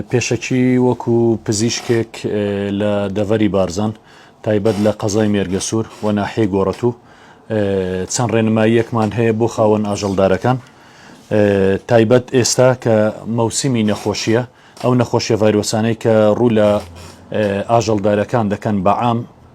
پێشەکی وەکو پزیشکێک لە دەڤەری بارزان تایبەت لە قەزای مێرگەسوور و ناحێ گۆڕەتوو چەند ڕێنماییەکمان هەیە بۆ خاوەن ئاژەڵدارەکان تایبەت ئێستا کە مەوسمی نەخۆشیە ئەو نەخۆشیە ڤایرۆسانەی کە ڕوو لە ئاژەڵدارەکان دەکەن بەعام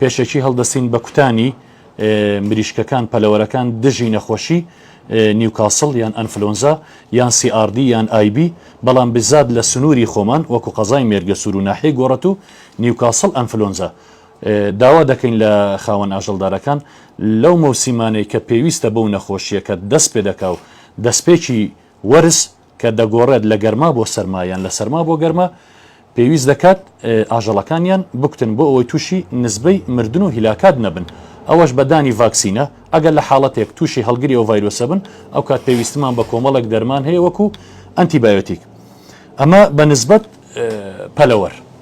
پێشەکی هەڵدەستین بە کوتانی مریشکەکان پەلەوەرەکان دژی نەخۆشی نیوکاسڵ یان ئەنفلۆنزا یان CRD یان IB بەڵام بزات لە سنووری خۆمان وەکو قەزای مێرگەسوور و ناحیەی گۆڕەت و نیوکاسڵ ئەنفلۆنزا داوا دەکەین لە خاوەن ئاژەڵدارەکان لەو مەوسیمانەی کە پێویستە بەو نەخۆشیەکە دەست پێ دەکا و دەستپێکی وەرز کە دەگۆڕێت لە گەرما بۆ سەرما یان لە سەرما بۆ گەرما، پێویست دەکات ئاژەڵەکانیان بکوتن بۆ ئەوەی تووشی نسبەی مردن و هیلاکات نەبن، ئەوەش بە دانی ڤاکسینە، ئەگەر لە حاڵەتێک تووشی هەڵگری ئەو ڤایرۆسە بن، ئەوکات پێویستمان بە کۆمەڵێک دەرمان هەیە وەکو ئەنتی بایۆتیک، ئەمە بە نسبەت پەلەوەر.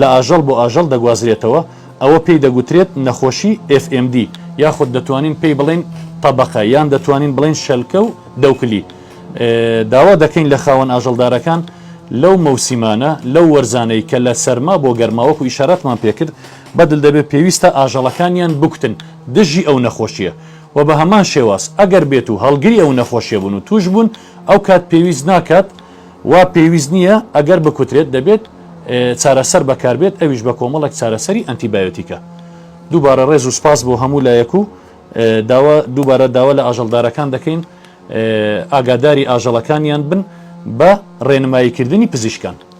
لە ئاژەڵ بۆ ئاژەڵ دەگوازرێتەوە، ئەوە پێی دەگوترێت نەخۆشی FMD، یاخود دەتوانین پێی بڵێین تەبەقە یان دەتوانین بڵێین شەلکە و دەوکلی. داوا دەکەین لە خاوەن ئاژەڵدارەکان لەو مەوسیمانە، لەو وەرزانەی کە لە سەرما بۆ گەرما وەکو ئیشارەتمان پێکرد بەدل دەبێت پێویستە ئاژەڵەکانیان بکوتن دژی ئەو نەخۆشییە و بە هەمان شێواز ئەگەر بێتو هەڵگری ئەو نەخۆشیە بون و توشبون ئەوکات پێویست ناکات وا پێویست نییە، ئەگەر بکوترێت دەبێت چارەسەر بەکاربێت ئەویش بە کۆمەڵێک چارەسەری ئەنتی بایۆتیکە. دووبارە ڕێز و سپاس بۆ هەموو لایەک و داوا دووبارە داوا لە ئاژەڵدارەکان دەکەین ئاگاداری ئاژەڵەکانیان بن بە ڕێنماییکردنی پزیشکان.